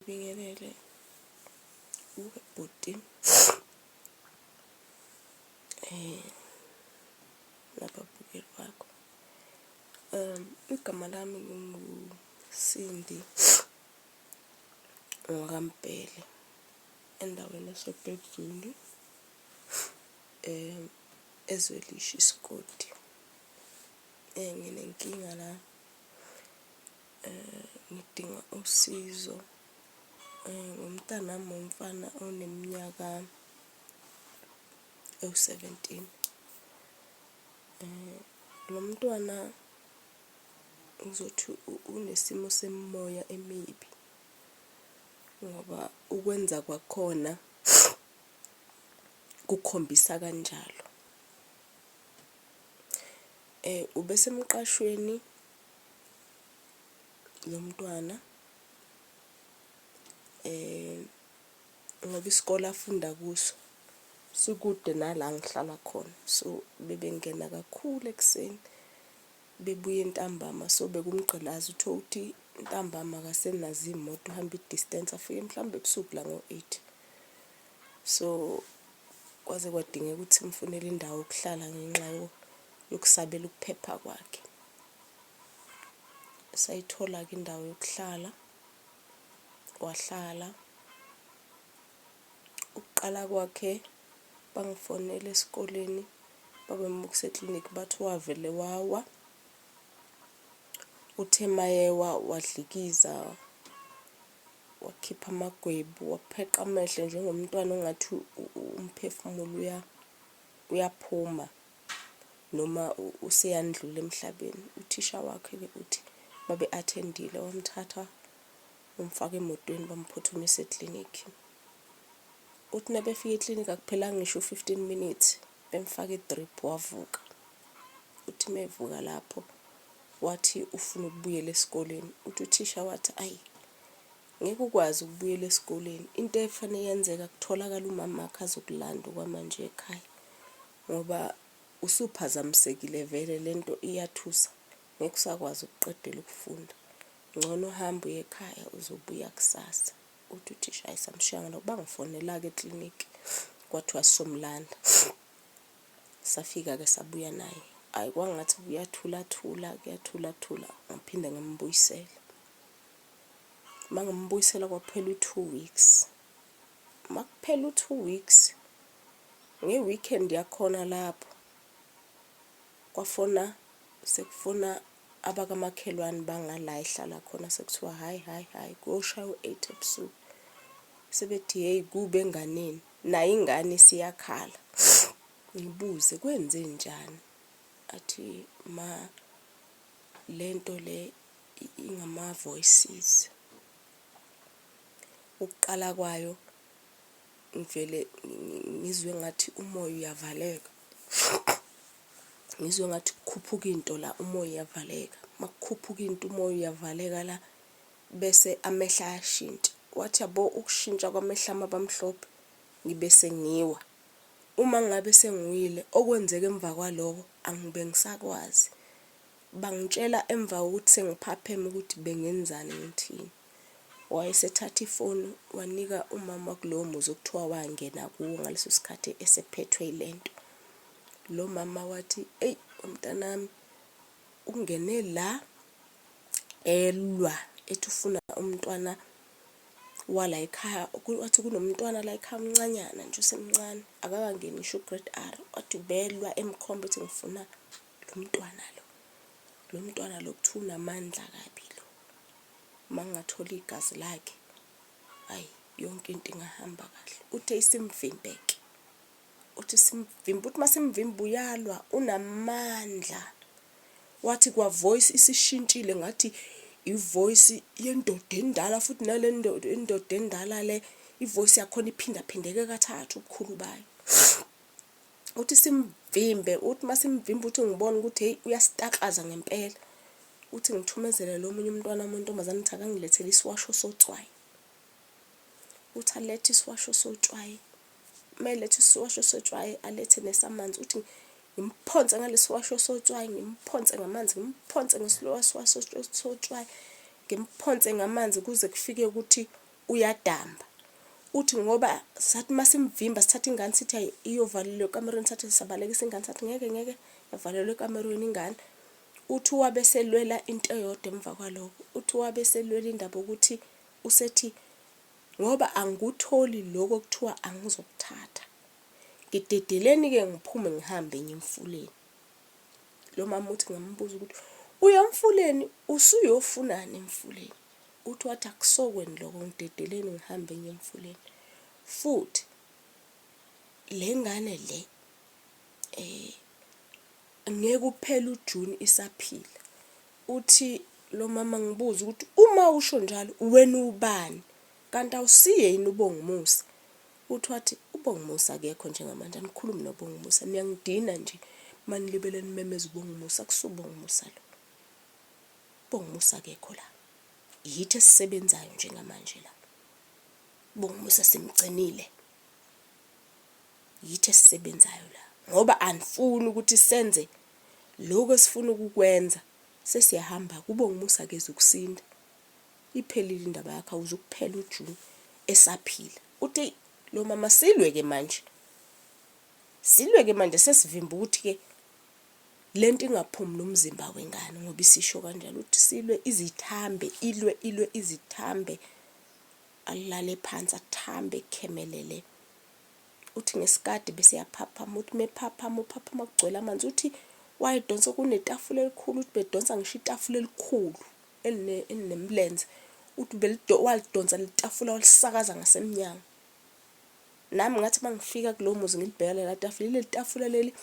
Bingelele uwe bhuti eh nababukeli bakho um igama lami nginguSindi ngikaMbhele endaweni yaseBhekuzulu um ezwelisha isigodi um nginenkinga la. Eh, ngidinga usizo eh, ngumntanami womfana oneminyaka ewu-17 eh, lo mntwana ngizothi unesimo semimoya emibi ngoba ukwenza kwakhona kukhombisa kanjalo eh ubesemqashweni nomntwana um ngoba isikole afunda kuso sikude nala ngihlala khona so bebengena kakhulu ekuseni bebuye ntambama so bekumgqilaza utho ukuthi ntambama akasenazo iy'moto uhamba i-distance afike mhlawumbe ebusuku la ngo-eight so kwaze kwadingeka ukuthi mfunele indawo yokuhlala ngenxa yokusabela ukuphepha kwakhe sayithola-ke indawo yokuhlala wahlala ukuqala kwakhe bangifonele esikoleni babemukisa eklinikhi bathi wavele wawa uthe mayewa wadlikiza wakhipha amagwebu wapheqa amehlo njengomntwana ongathi umphefumulo uya uyaphuma noma useyandlula emhlabeni uthisha wakhe ke uthi babe attendile wamthatha umfaka emotweni bamphuthumisa eclinic uthi nabefika eclinic akuphelanga ngisho 15 minutes bemfaka idrip wavuka uthi mevuka lapho Wathi ufuna ukubuyela esikoleni. Uthi uthisha wathi ayi ngeke ukwazi ukubuyela esikoleni. Into efanele yenzeka kutholakala umama wakhe azokulanda okwamanje ekhaya. Ngoba usuphazamisekile vele lento iyathusa. Ngeke usakwazi ukuqedela ukufunda. Ngcono uhambe uye ekhaya uzobuya kusasa. Uthi uthisha ayisamshiyanga nokuba ngifonela-ke eklinikhi kwathiwa sizomlanda. Safika-ke sabuya naye. Hhayi kwangathi kuyathulathula, kuyathulathula ngaphinde ngimbuyisela. Uma ngimbuyisela kwaphela u-two weeks. Uma kuphela u-two weeks, nge-weekend yakhona lapho kwafona sekufona abakamakhelwane bangala ehlala khona sekuthiwa hhayi hhayi hhayi kuyoshaya u-eight ebusuku sebethi hheyi kube enganeni nayo ingane isiyakhala ngibuze kwenze njani athi ma lento le ingama voices ukuqala kwayo ngivele ngizwe ngathi umoya uyavaleka ngizwe ngathi kukhuphuka into la umoya uyavaleka makukhuphuka into umoya uyavaleka la Bese amehlo ayashintsha. Wathi, Yabo, ukushintsha kwamehlo ami aba mhlophe, ngibe sengiwa. Uma ngingabe sengiwile, okwenzeka emva kwaloko angibe ngisakwazi. Bangitshela emva kokuthi sengiphapheme ukuthi bengenzani, ngithini. Wayesethatha ifoni wanika umama kulowo muzi okuthiwa wangena kuwo ngaleso sikhathi esephethwe yile nto. Lo mama wathi, Eyi, wamntanami, ungene la elwa ethi ufuna umntwana wala ekhaya wathi kunomntwana la ekhaya umncanyana nje usemncane akakangeni ngisho ugrade r wathi ubelwa emkhomba ethi ngifuna lo mntwana lo lo mntwana lo kuthiwa unamandla kabi lo uma ngingathola igazi lakhe hhayi yonke into ingahamba kahle uthe isimvimbeke uthi simvimba uthi masimvimba uyalwa unamandla wathi kwa voice isishintshile ngathi ivoice yendoda endala futhi nale ndoda endala le ivoice yakhona iphindaphindeke kathathu ubukhulu bayo uthi simvimbe uthi masimvimbe uthi ngibona ukuthi hey uyasitakaza ngempela uthi ngithumezele lo munye umntwana omuntomazane uthi akangilethele isiwasho sotswayi uthi alethe isiwasho sotshwayi uma eletha isiwasho sotshwayi alethe nesamanzi uthi ngimphonse ngalesiwasho sotshwayi ngimphonse ngamanzi ngimphonse ngesiwasho sotshwayi ngimphonse ngamanzi kuze kufike ukuthi uyadamba uthi ngoba sathi uma simvimba sithatha ingane sithi ayi iyovalelwa ekamerweni sathi sabalekisa ingane sathi ngeke ngeke yavalelwa ekamerweni ingane uthi wabe selwela into eyodwa emva kwaloko uthi wabe selwela indaba ukuthi Usethi, Ngoba angikutholi lokho okuthiwa angizokuthatha, ngidedeleni-ke ngiphume ngihambe ngiye emfuleni. Lo mama uthi ngambuza ukuthi uya emfuleni usuyofunani emfuleni? Uthi wathi akusokweni lokho ngidedeleni ngihambe ngiye emfuleni. Futhi le ngane le um ngeke uphele uJuni isaphila. Uthi lomama ngibuze ukuthi uma usho njalo wena uwubani kanti awusiye yini uBongumusa? Uthi wathi uBongumusa akekho njengamanje anikhulumi noBongumusa niyangidina nje manilibele nimemeza uBongumusa akusiwo uBongumusa lo. Bongumusa akekho la. Yithi esisebenzayo njengamanje la. Bongumusa simgcinile. Yithi esisebenzayo la ngoba anifuni ukuthi senze lokho esifuna ukukwenza sesiyahamba kubo ngumusa keze ukusinda iphelile indaba yakhe awuzukuphela uJune esaphila uthi lo mama silwe ke manje silwe ke manje sesivimba ukuthi ke lento ingaphumi nomzimba wengane ngoba isisho kanjalo uthi silwe izithambe ilwe ilwe izithambe alale phansi athambe khemelele uthi ngesikade bese yaphaphama uthi mephaphama uphaphama kugcwele amanzi uthi wayedonsa kunetafula elikhulu uthi bedonsa ngisho itafula elikhulu elinemlenze uthi walidonsa litafula walisakaza ngasemnyango nami ngathi uma ngifika kulowo muzi ngilibheka lela tafula ileli tafula leli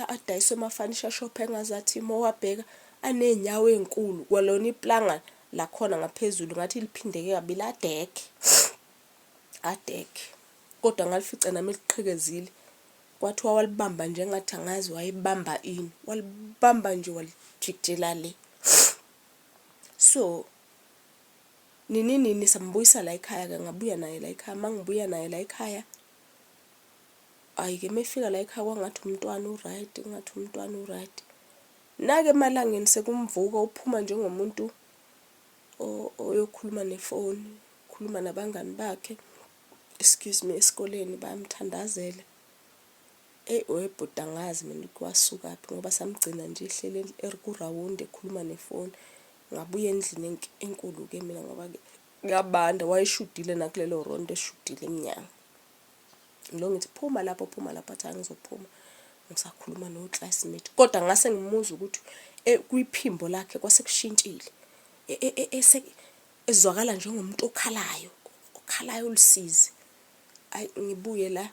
adayiswe emafanisha shop engazathi uma wabheka aney'nyawo ey'nkulu kwalona iplanga lakhona ngaphezulu ngathi liphindeke kabili adekhe adeke kodwa ngalifica nami liqhikezile kwathiwa walibamba nje ngathi angazi wayibamba ini walibamba nje walijikjela le so nini nini sambuyisa la ekhaya ke ngabuya naye la ekhaya mangibuya naye la ekhaya ayi ke mefika la ekhaya kwangathi umntwana uright ngathi umntwana uright nake emalangeni sekumvuka uphuma njengomuntu oyokhuluma nefoni khuluma nabangani bakhe excuse me esikoleni bamthandazele eyi webhuti angazi mina ukuthi wasukaphi ngoba samgcina nje ehleli erikurawundi ekhuluma nefoni ngabuya endlini enkulu-ke mina ngoba-ke kuyabanda wayeshudile nakulelo rondo eshudile emnyango ngilo ngithi phuma lapho phuma lapho athi angizophuma ngisakhuluma no-classmate kodwa ngase ngimuzwa ukuthi eh, kwiphimbo lakhe kwase kushintshile e, e, e, ezwakala njengomuntu okhalayo okhalayo olusizi ayi ngibuye la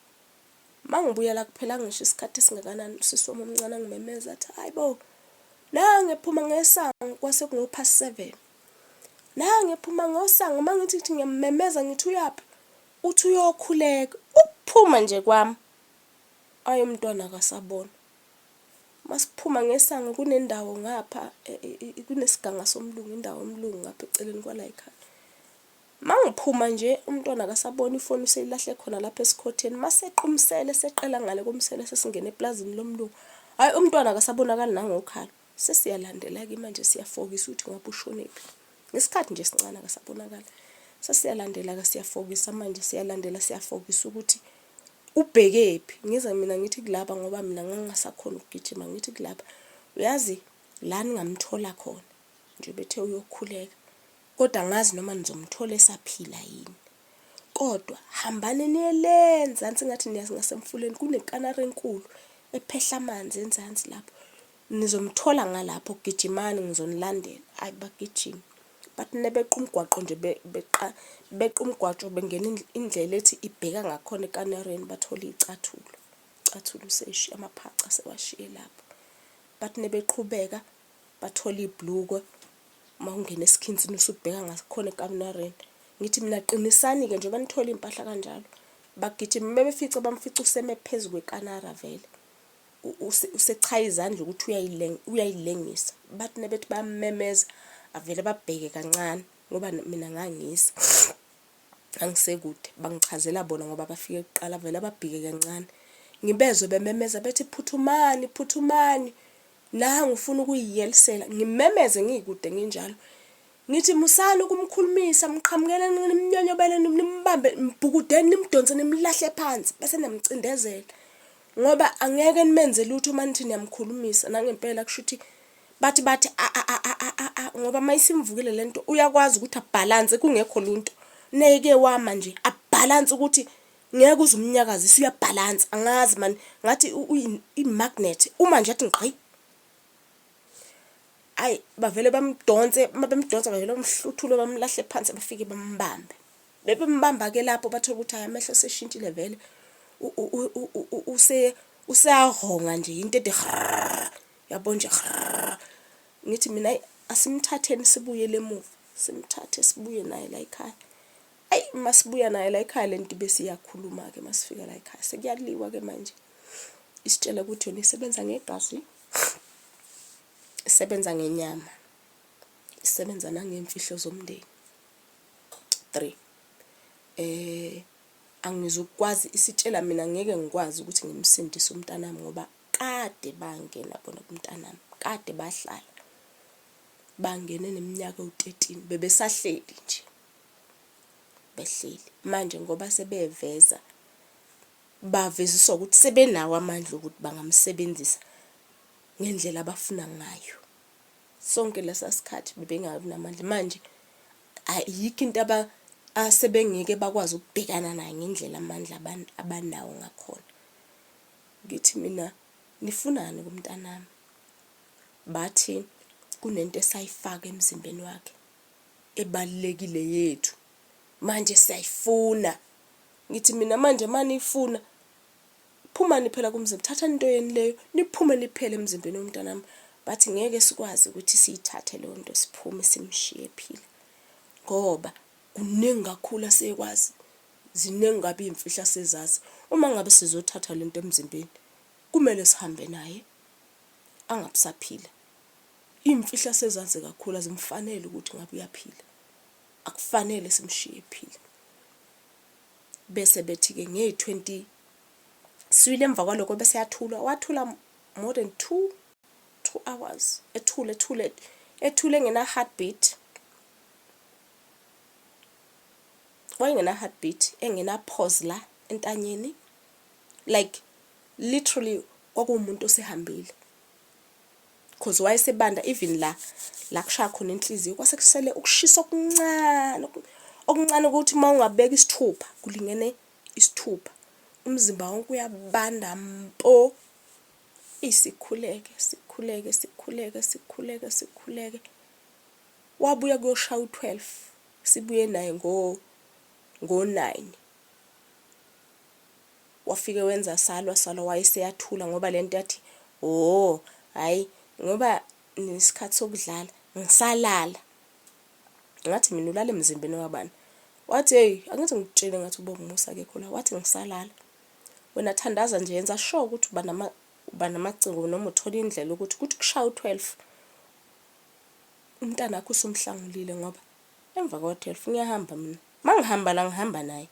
uma ngibuya la kuphela ngisho isikhathi esingakanani usisi wami omncane angimemeza athi hayi bo nange phuma ngesango kwase kungophast seven nange phuma ngosango uma ngithi ngithi ngiyamemeza ngithi uyaphi Uthi uyokhuleka ukuphuma nje kwam ay umntwana akasabonwa masiphuma ngesango kunendawo ngapha e, e, e, kunesiganga somlungu indawo omlungu ngapha eceleni kwalayikhaya mangiphuma nje umntwana akasabona ifoni useyilahle khona lapha esikhotheni masequmsele seqela ngale komsele sesingena eplazini lomlungu hayi umntwana akasabonakali nangokhala Sesiyalandela-ke manje siyafokisa ukuthi ngabe ushonephi. Ngesikhathi nje sincane akasabonakali. Sesiyalandela-ke siyafokisa manje siyalandela siyafokisa ukuthi ubhekephi. Ngize mina ngithi kulaba ngoba mina ngangingasakhona ukugijima ngithi kulaba uyazi la ningamthola khona nje bethe uyokhuleka kodwa angazi noma nizomthola esaphila yini. Kodwa hambani niye le nzansi ngathi niyazi ngasemfuleni kunekanari enkulu ephehla amanzi enzansi lapho. Nizomthola ngalapho gijimani ngizonilandela. Hayi bagijima. But nebeqa umgwaqo nje beqa beqa umgwajo bengena indlela ethi ibheka ngakhona ekanareni bathole icathulo. Icathulo useshi amaphaca sewashiye lapho. But nebeqhubeka bathole iblukwe uma ungena esikhinsini usubheka ngakhona ekaminareni ngithi mina qinisani-ke njengoba nithole iy'mpahla kanjalo bagijima bebefica bamfica useme phezu kwekanara vele usechaya izandla ukuthi uyayilengisa bathi nebethi bamemeza avele babheke kancane ngoba mina ngangisa angisekude bangichazela bona ngoba bafike kuqala vele ababhike kancane ngibezwe bememeza bethi phuthumani phuthumani Nangu ufuna ukuyiyelisela, ngimemeze ngikude nginjalo. Ngithi musani ukumkhulumisa, mqhamukeleni nimnyonyobeleni, nimbambe, mbhukudeni, nimdonse nimlahle phansi bese niyamcindezela. Ngoba angeke nimenze lutho uma nithi niyamkhulumisa nangempela kusho ukuthi bathi bathi a a a a a a ngoba uma isimvukile le nto uyakwazi ukuthi abhalanse kungekho lunto neke wama nje abhalanse ukuthi Ngeke uze umnyakazise uyabhalansa angazi mani ngathi i-magnet uma nje athi ngqayi ayi bavele bamdonse uma bemdonsa bavele bamhluthule bamlahle phansi bafike bambambe bebembamba-ke lapho bathole ukuthi hayi amehlo seshintshile vele useyahonga nje into ede yabo nje ngithi mina asimthatheni sibuyele emuva simthathe sibuye naye la yikhaya ayi masibuya naye la ekhaya lento bese iyakhuluma ke masifika la ekhaya sekuyaliwa ke manje isitshela ukuthi yona isebenza ngegazi isebenza ngenyama isebenza nangemfihlo zomndeni 3 eh angizukwazi isitshela mina ngeke ngikwazi ukuthi ngimsindise umntanami ngoba kade bangena bona kumntanami kade bahlala bangene neminyaka u13 bebesahleli nje behleli manje ngoba sebeveza baveziswa ukuthi sebenawo amandla okuthi bangamsebenzisa ngendlela abafuna ngayo sonke lesa sikhathi bebengabi namandla manje ayikho into aba asebengeke bakwazi ukubhekana nayo ngendlela amandla abanawo ngakhona ngithi mina nifunani kumntanami bathi kunento esayifaka emzimbeni wakhe ebalulekile yethu manje siyayifuna ngithi mina manje maniyifuna phumani phela kumzimba thathani into yenu leyo niphume niphele emzimbeni womntanami bathi ngeke sikwazi ukuthi siyithathe leyo nto siphume simshiye ephila ngoba kuningi kakhulu asekwazi ziningi kabi iy'mfihla sezazi uma ngabe sizothatha le nto emzimbeni kumele sihambe naye angabusaphila Iy'mfihlo asezazi kakhulu azimfanele ukuthi ngabe uyaphila. Akufanele simshiye ephila. Bese bethi-ke ngey-twenty sibili emva kwaloko bese yathula, wathula more than two, two hours ethule ethule ethule engena-heartbeat. Wayengena-heartbeat, engena-pause la entanyeni like literally kwakuwumuntu osehambile. cause wayesebanda even la la kushaya khona inhliziyo kwase kusele ukushisa okuncane okuncane ukuthi uma ungabeka isithupha kulingene isithupha umzimba wonke uyabanda mpo isikhuleke sikhuleke sikhuleke sikhuleke sikhuleke wabuya kuyoshaya u-12 sibuye naye ngo ngo-9 Wafike wenza salwa salwa wayeseyathula ngoba lento yathi hoo hayi ngoba nisikhathi sokudlala ngisalala ngathi mina ulala emzimbeni wabani wathi hey angithi ngikutshele ngathi uba umusa akekho la wathi ngisalala wena thandaza nje yenza sure ukuthi uba nama uba namacingo noma uthola indlela ukuthi kuthi kushaya u-12 umntana wakho usumhlangulile ngoba emva kwa-12 ngiyahamba mina mangihamba la ngihamba naye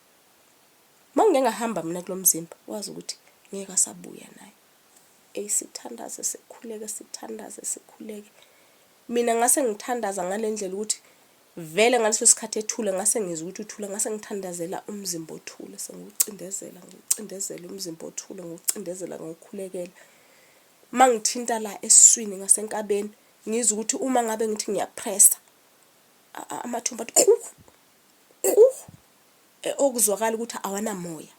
Mawungeke ngahamba mina kulomzimba wazi ukuthi ngeke asabuya naye. Ey sithandaze sikhuleke sithandaze sikhuleke. Mina ngase ngithandaza ngalendlela ukuthi vele ngaleso sikhathi ethule ngase ngizwa ukuthi uthule ngase ngithandazela umzimba othule sengiwucindezela ngiwucindezela umzimba othule ngiwucindezela ngiwukhulekela mangithinta la esiswini ngasenkabeni ngizwa ukuthi uma ngabe ngithi ngiyapressa amathumbu athi Ku eh, okuzwakala ukuthi awanamoya.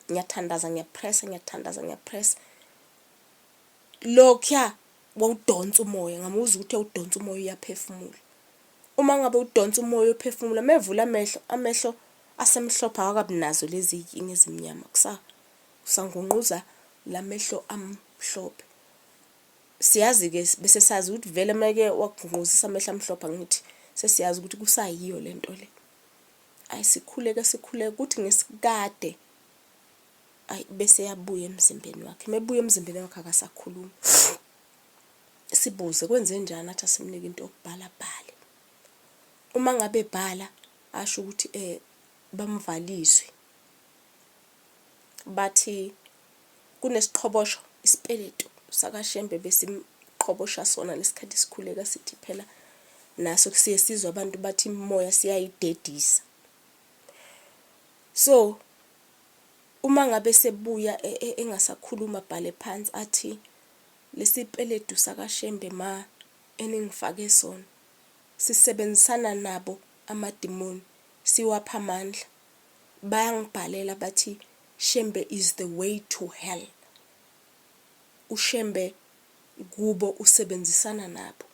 Ngiyathandaza ngiyapressa ngiyathandaza ngiyapressa. Lokya wawudonsa umoya ngamuzwa ukuthi udonsa umoya uyaphefumula. Uma ngabe udonsa umoya uphefumula mevula amehlo amehlo asemhlophe awakabinazo lezi inkinga ezimnyama kusa kusangungquza lamehlo amhlophe. Siyazi-ke bese sazi ukuthi vele meke wakugqungquzisa amehla amhlophe angithi sesiyazi ukuthi kusayiyo le nto le ayi sikhuleke sikhuleke kuthi ngesikade ayi bese yabuya emzimbeni wakhe mebuya emzimbeni wakhe akasakhulumi sibuze kwenze njani athi asimnike into yokubhala bhale uma ngabe bhala asho ukuthi eh bamvaliswe bathi kunesiqhobosho isipeletu sakaShembe besimqhobosha sona ngesikhathi sikhuleka sithi phela naso siye sizwa abantu bathi imimoya siyayidedisa so uma ngabe sebuya e, e, engasakhuluma bhale phansi athi lesipeletu sakaShembe ma eningifake sona sisebenzisana nabo amadimoni siwapha amandla bayangibhalela bathi Shembe is the way to hell. UShembe kubo usebenzisana nabo.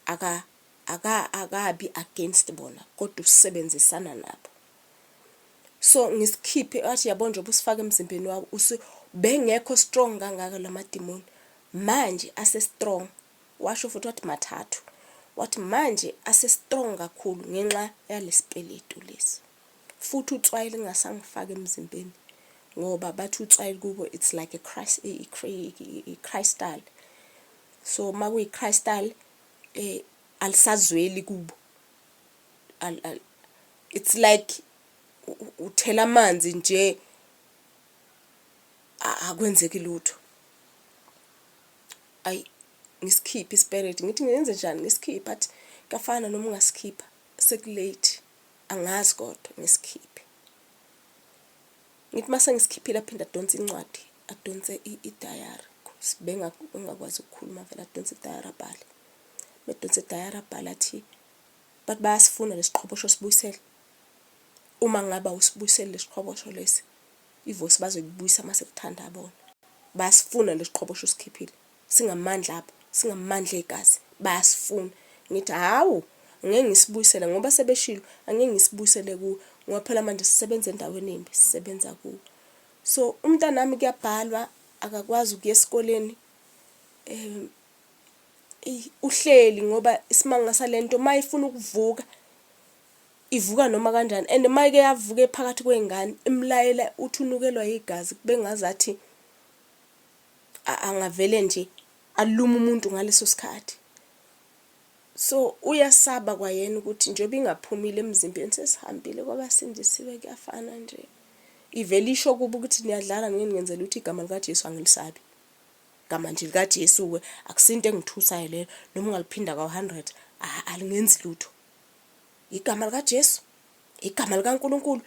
Aka aka akabi against bona kodwa usebenzisana nabo. So ngisikhiphe athi yabo nje ubusifaka emzimbeni wabo usu bengekho strong kangaka lamadimoni. Manje ase strong. Washo futhi wathi mathathu. Wathi manje ase strong kakhulu ngenxa yalesipeletu lesi. Futhi utswayi lingasangifaki emzimbeni ngoba bathi utswayi kubo it's like a Christ crystal so makuyi crystal eh alisazweli kubo it's like uthela amanzi nje akwenzeki lutho ayi ngisikhiphe isperate ngithi ngenze njani ngisikhiphe athi kafana noma ungasikhipha sekulate Angazi kodwa ngisikhiphe. Ngithi mase ngisikhiphile aphinde adonse incwadi, adonse i-diary. Sibenga ungakwazi ukukhuluma vele adonse i-diary abhale. Bedonse i-diary abhale athi bathi bayasifuna lesiqhobosho sibuyisele. Uma ngaba usibuyisele lesiqhobosho lesi, ivosi bazoyibuyisa mase kuthanda bona. Basifuna lesiqhobosho usikhiphile. singamandla abo singamandla egazi bayasifuna ngithi hawu ngeke ngisibuyisele ngoba sebeshilo angeke ngisibuyisele kuwe ngoba phela manje sisebenza endaweni embi sisebenza kuwe so umntanami kuyabhalwa akakwazi ukuya esikoleni um uhleli ngoba isimanga salento mayifuna ukuvuka ivuka noma kanjani and mayike yavuka ephakathi kwengane imlayela uthi unukelwa igazi bengazathi angavele nje alume umuntu ngaleso sikhathi so uyasaba kwayena ukuthi njengoba ingaphumile emzimbeni sesihambile kwabasindisiwe kuyafana nje ivele isho kuba ukuthi niyadlala ngini ngenzela ukuthi igama likaJesu angilisabi igama nje likaJesu ke akusinto engithusayo leyo noma ungaliphinda ka-100 alingenzi lutho igama likaJesu Igama likaNkulunkulu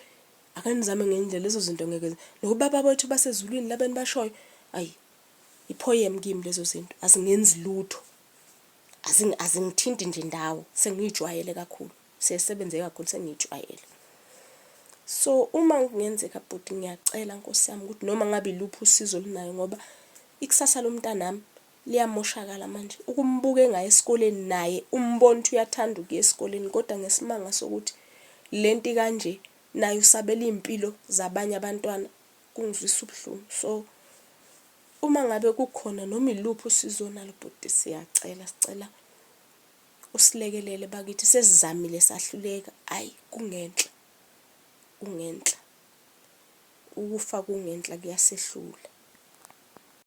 ake nizame ngenye indlela lezo zinto ngeke nobaba bethu basezulwini labeni bashoyo ayi iphoyem kimi lezo zinto azingenzi lutho azingithinti nje ndawo sengiyijwayele kakhulu sesebenze kakhulu sengiyijwayele so uma kungenzeka bhuti ngiyacela nkosi yami ukuthi noma ngabe iluphi usizo olunayo ngoba ikusasa lomntanami Liyamoshakala manje ukumbuka engaya esikoleni naye umbona ukuthi uyathanda ukuya esikoleni kodwa ngesimanga sokuthi lento ikanje naye usabela izimpilo zabanye abantwana kungizwisa ubuhlungu so uma ngabe kukhona noma iluphi usizo onalo bhuti siyacela sicela usilekelele bakithi sesizamile sahluleka ayi kungenhla kungenhla ukufa kungenhla kuyasehlula